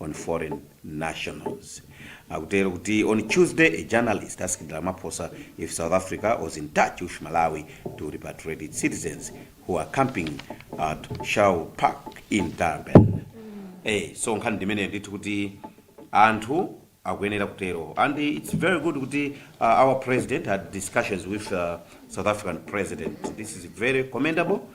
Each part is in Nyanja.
on foreign nationals akutero kuti on tuesday a journalist asked ramaphosa if south africa was in touch wth malawi to repatriate its citizens who are camping at shau park in durban eh so nkhani ndimeneyo ndithu kuti anthu akuyenera kutero and it's very good kuti uh, our president had discussions with uh, south african president this is very commendable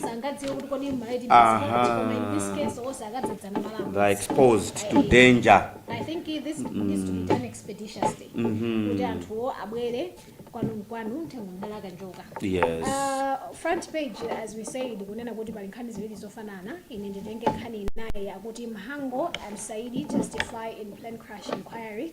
sangadziwe kuti kodi malaiti Aha. koma in this case onse akadzadzana malemu they are exposed to danger I think this needs to be done expeditiously. Kuti anthuwo abwere kwanu nkwanu mthengo mdala kanjoka. yes Uh, front page as we said kunena kuti pali nkhani ziwiri zofanana ine nditenge nkhani inayi akuti Mhango and Saidi testify in plane crash inquiry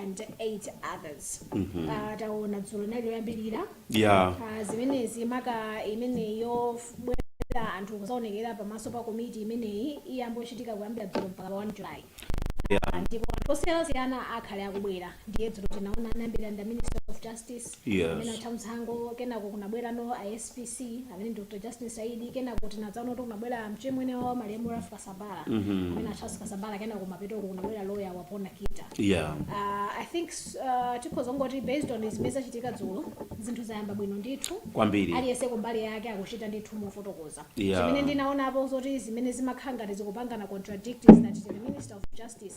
and eight others Ah, taona dzulo inali yoyambirira ya Ah, zimenezi maka imeneyi yobwera anthu kuzaonekera pamaso pa komiti imeneyi iyambochitika kuyambira dzulo mpaka pa 1 july ya Ah, ndipo anthu osiyanasiyana akhale akubwera ndiye dzulo tinaona anayambira ndi minister of justice Yes. amene a Mhango kenako kunabwerano SPC amene ndi Dr. Justin Saidi kenako tinadzaona kuti kunabwera mchimwene wa malemu Ralph Kasambara Mhm. amene Charles Kasambara kenako kumapeto kunabwera lawyer wa Bona Kita yeah Uh, I think uh, tikhozongoti based on zimene zachitika dzulo zinthu zayamba bwino ndithu Kwambiri. aliyense kumbali yake akuchita ndithu mofotokoza Yeah. chimene ndinaonapo zoti zimene zimakhala ngati zikupangana contradict is that the minister of justice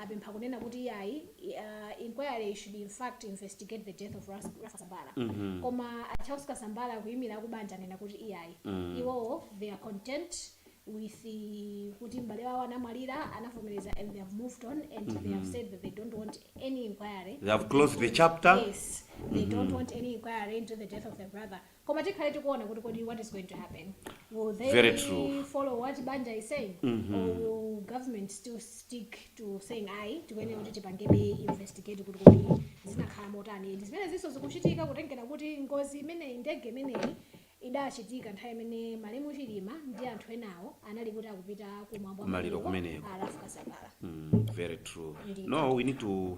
apempha kunena kuti iyayi inquiry should in fact investigate the death of Ras- Rafa Kasambara koma a Charles Kasambara kuyimira akubanja nena kuti iyayi iwowo they are content with the- kuti m'bale wawo anamwalira anavomereza and they have moved on and they have said that they don't want any inquiry They have closed the chapter. yes they don't want any inquiry into the death of their brother koma tikhale tikuona kuti kodi what is going to happen will they Very true. follow what banja is saying or will government still stick to saying ayi tikuyenera kuti tipangebe investigate kuti kodi zinakhala motani ndi zimene zinso zikuchitika kutengera kuti ngozi imeneyi ndege imeneyi idachitika nthawi imene malemu chilima ndi anthu enawo anali kuti akupita ku mwambo wa maliro kumeneko. a Ralph Kasambara Mm, very true. Indeed. No, we need to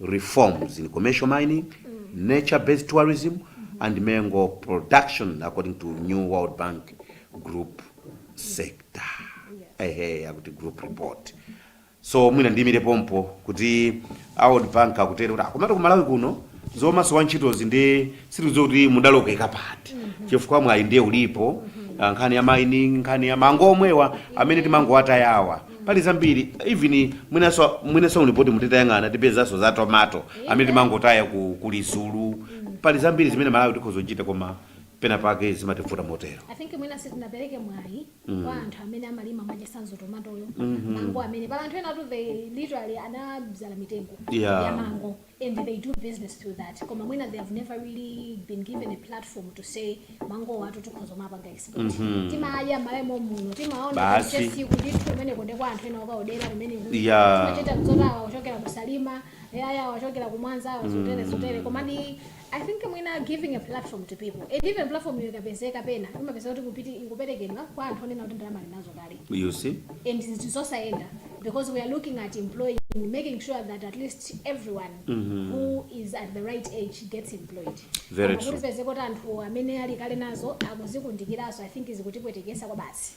reforms in commercial mining, nature based tourism and mango production according to new World Bank group sector. Ehe, akuti group report. So mwina ndimire pompo kuti a World Bank akutero kuti komatu ku Malawi kuno zomasowa ntchitozi ndi si zoti mudalodzeka ayi chifukwa mwayi ndiye ulipo ah, nkhani ya mining nkhani ya mango omwewa amene timangowatayawa pali zambiri even mwinanso mwinanso mu lipoti mutitayang'ana tipezanso za tomato amene timangotaya ku Lizulu pali zambiri zimene malawi tikhoza kuchita koma pena pake zimativuta motero I think mwina sitinapereke mwayi kwa anthu amene amalima mwachitsanzo tomatoyo mango amene pali anthu enatu they literally anabzala mitengo Yeah. ya mango and they do business through that koma mwina they have never really been given a platform to say mangowatu tikhoza kumapanga export timadya mmayamomuno timaona Basi. kuti kundithu kumene kuli kwa anthu ena okaodera kumene Yeah. timachita zoti awa achokera ku Salima iyayi awa achokera ku Mwanza awa zotere zotere komadi I think mwina giving a platform to people and even platform yo ikapezeka pena umapeza kuti kupiti ikuperekedwa kwa anthu onena kuti ndalama ali nazo kale you see and zimenezo sizayenda because we are looking at employing making sure that at least everyone who is at the right age gets employed Very Koma true. ukapezeka kuti anthu amene ali kale nazo akudzikundikiranso i think zikutipweteketsa kwabasi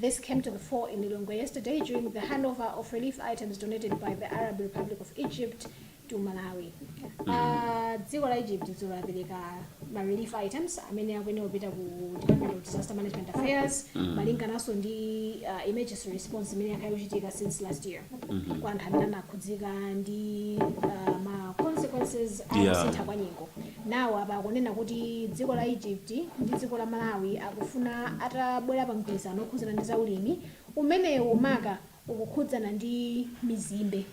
This came to the fore in Lilongwe yesterday during the handover of relief items donated by the Arab Republic of Egypt to Malawi. Uh, dziko la Egypt dzulo lapereka ma relief items amene akuyenera kupita ku Department of Disaster Management Affairs malingananso ndi uh, emergency response imene yakhala ikuchitika since last year kwa anthu amene anakhudzika ndi uh, ma consequences a Yeah. kusintha kwa nyengo Nawo apa akunena kuti dziko la Egypt ndi dziko la Malawi akufuna atabwera pa mgwirizano okhudzana ndi za ulimi, umenewo maka ukukhudzana ndi mizimbe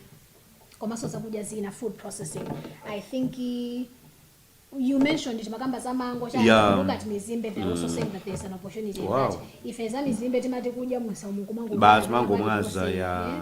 komanso zakudya zina, food processing, I think you mentioned it timakamba za mango chani, yeah. if you look at mizimbe they are mm. also saying that there is an opportunity wow. in that, ife za mizimbe timati kudya mmisamu kumangomwaza, yeah.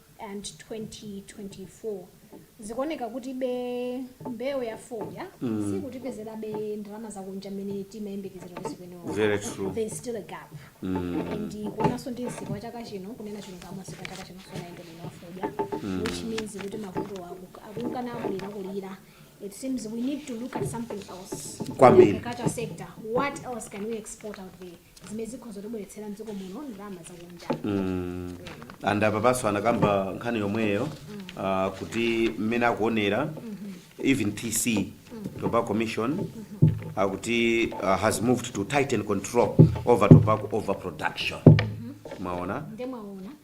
and 2024 zikuoneka kutibe mbewu ya fodya mm. sikutipezerabe ndalama zakunja mmene timayembekezera kuti zikuyenera Very true. there is still a gap mm. and kuonanso ndi msika wa chaka chino kunena chilungamo msika wa chaka chino sunayende bwino wa fodya mm. which means kuti mavuto aku- akunkana akulira kulira it seems we need to look at something else Kwambiri. In the agriculture sector what else can we export out there zimene zikhoza kutibweretsera mdziko muno ndalama zakunja Mm. and apapanso anakamba nkhani yomweyo ah, kuti mmene akuonera even tc tobacco commission akuti ah, has moved to tighten control over tobacco overproduction mwaona nde mwaona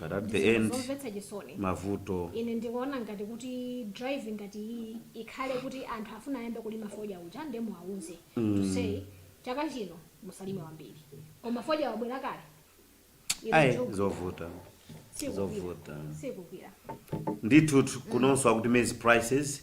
But at the Zinthu end zomvetsa chisoni. mavuto Ine ndikuona ngati kuti drive ngati iyiyi ikhale kuti anthu afuna ayambe kulima fodya uja nde muwauza to say chaka chino musalime wambiri koma fodya wabwera kale Inu ayi zogwira. zovuta Sikugwira. zovuta sikugwira ndithu kunonso akuti maize prices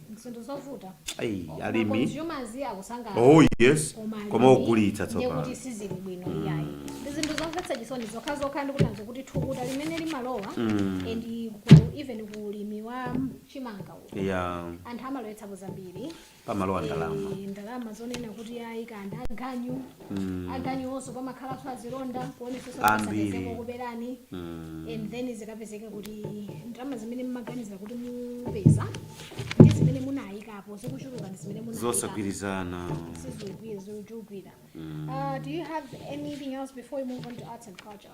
zinthu zovuta Ai, Ma alimi consumers akusangalala oh yes koma koma alimi ogulitsa ndiye tsopano kuti sizili bwino iyayi ndi zinthu zomvetsa chisoni zokha zokha ndikutanso kuti thukuta limene limalowa and ku- even ku ulimi wa chimanga uku ya anthu amalowetsapo zambiri pamalowa ndalama Eh, ndalama zonena kuti ayi kanda ganyu mm. aganiwonso pamakhalanso azilonda kuonetsetsa Ambiri. akuberani Mm. and then zikapezeka kuti ndalama zimene mmaganiza kuti mupeza ndi zimene munayikapo zikuchuluka ndi zimene munayikapo zosagwirizana sizogwira zikuchulukira Uh, do you have anything else before we move on to arts and culture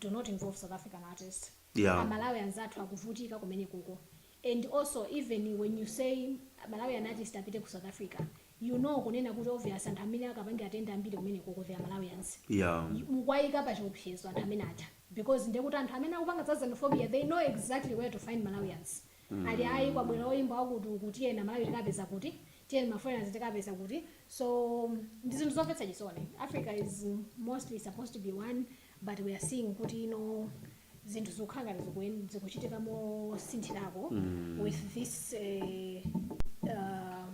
do not involve South African artist Yeah. a Malawians athu akuvutika kumenekoko and also even when you say malawian artist apite ku south africa you know kunena kuti obvious anthu amene akapange atende ambiri kumenekoko they are malawians yeah mukuwayika pa chiopsezo anthu amene aja because ndekuti anthu amene akupanga za xenophobia they know exactly where to find malawians ali ayi kwabwera oyimba wakuti uku tiyeni amalawi tikapeza kuti tiyeni ma foreigners tikapeza kuti so ndi zinthu zomvetsa chisoni africa is mostly supposed to be one but we are seeing kuti ino zinthu zikukhala ngati zikuchitika mosinthirako with this eh, uh,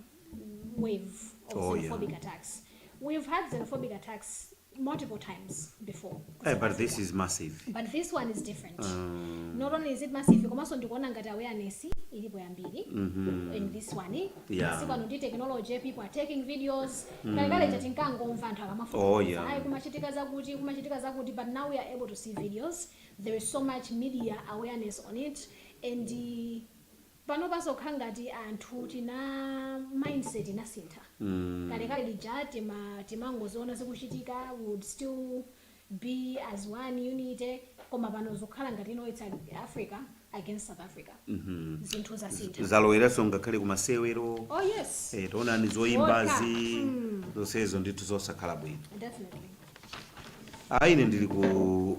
wave of Oh, yeah. xenophobic attacks we've had xenophobic attacks multiple times before Eh, but this is massive. but this one is different not only is it massive komanso ndikuona ngati awareness ilipo yambiri and this one Yeah. masiku ano ndi technology people are taking videos kalekale chati tinkangomva anthu Oh, akamafa ayi yeah. kumachitika zakuti kumachitika zakuti but now we are able to see videos there is so much media awareness on it and uh, panopa zikukhala ngati anthu tili ndi mindset inasintha kalekale lija tima timangoziona zikuchitika we would still be as one unity koma pano zikukhala ngati ino its africa against south africa zinthu zasintha zaloweranso ngakhale kumasewero oh yes eh, taonani zoyimbazi zonsezo ndithu zosakhala bwino definitely ayi ine ndili ku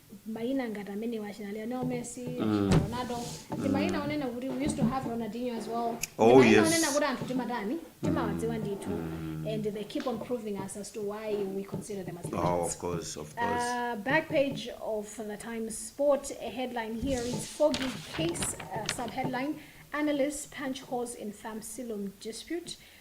mayina ngati amenewa achina Lionel Messi, achina Ronaldo, ndi mayina onena kuti we used to have Ronaldinho as well. Oh, Ndi mayina yes. onena kuti anthu timatani, timawadziwa ndithu. And they keep on proving us as to why we consider them as legends. Oh, of course, of course. Uh, back page of the Times Sport a headline here is Foggy Case, uh, subheadline Analysts Punch Holes in Farm Silum Dispute.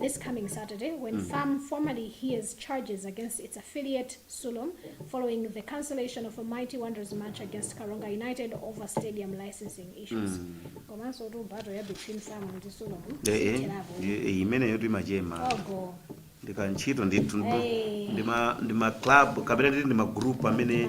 this coming Saturday when fam formally hears charges against its affiliate Sulom following the cancellation of a Mighty Wanderers match against Karonga United over stadium licensing issues. Komanso tu battle ya between fam ndi Sulom. Eh, eh, zilipo. eh, eh, imeneyo timachema Ogo. ndikantchito ndithu Eh. ndi ma- ndi ma club kapena titi ndi magroup amene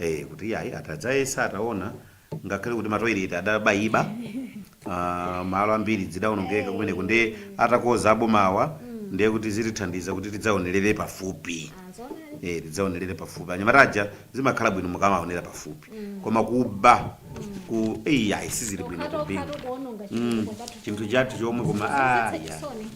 ee kuti iyayi atadzayetsa ataona ngakhale kuti matoilet adabayiba ah, malo ambiri zidaonongeka kumeneko ndiye atakonza abomawa ndiye kuti zitithandiza kuti tidzaonerere pafupi eh tidzaonerere pafupi anyamata aja zimakhala bwino mukamaonera pafupi koma kubaku iyayi sizili bwino Ukata kupinga ukata kuononga Mm, chitukuko chathu chinthu chonse. chathu chomwe koma Zomvetsa aya chisoni.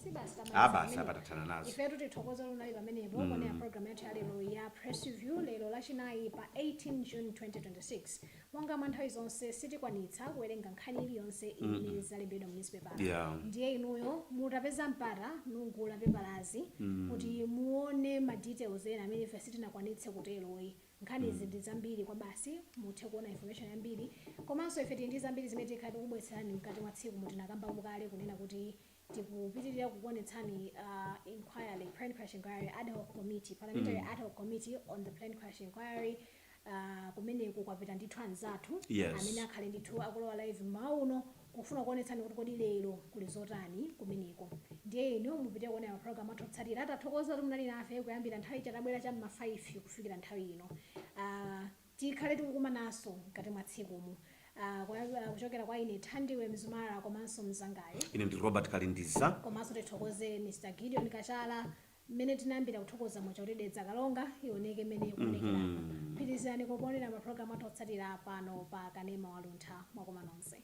si basi Ah, tamaliza basi pamenepo. apa tathana nazo ifetu tithokoze munali pamenepo Mm. kuonera programu yathu yalero ya press review lero lachinayi pa 18 june 2026 monga mwa nthawi zonse sitikwanitsa kuwerenga nkhani iliyonse imene Mm. yalembedwa mu newspaper Yeah. ndiye inuyo mutapeza mpata mugule pepalazi Mm. kuti muone ma details ena amene ife sitinakwanitse kutero ayi nkhani izi Mm. ndi zambiri kwabasi muthe kuona information yambiri komanso ife tili ndi zambiri zimene tikhala tikubweretserani mkati mwa tsiku momwe tinakamba kale kunena kuti tikupitiriza kukuonetsani a inquiry, plane crash inquiry ad hoc committee, parliamentary ad hoc committee on the plane crash inquiry ah, kumeneko kwapita ndithu anzathu Yes. amene akhale ndithu akulowa live mmawa uno kufuna kuonetsani kuti kodi lero kuli zotani kumeneko ndiye inu mupitirize kuonera mapulogalamu athu otsatira tathokoza kuti munali nafe kuyambira nthawi ija tabwera cha mma 5 kufikira nthawi ino Ah, Tikhale tikukumananso mkati mwa tsikumu. Kuchokera kwa ine Thandiwe Mzumara komanso mzangayu. Ine ndi Robert Kalindiza. Komanso tithokoze Mr Gideon Kachala mmene tinayambira kuthokoza muja kuti Dedza Kalonga ioneke mmene ikuonekeramu. Pitirizani kuonera ma program athu otsatira pano pa Kanema wa Luntha. Mwakoma nonse.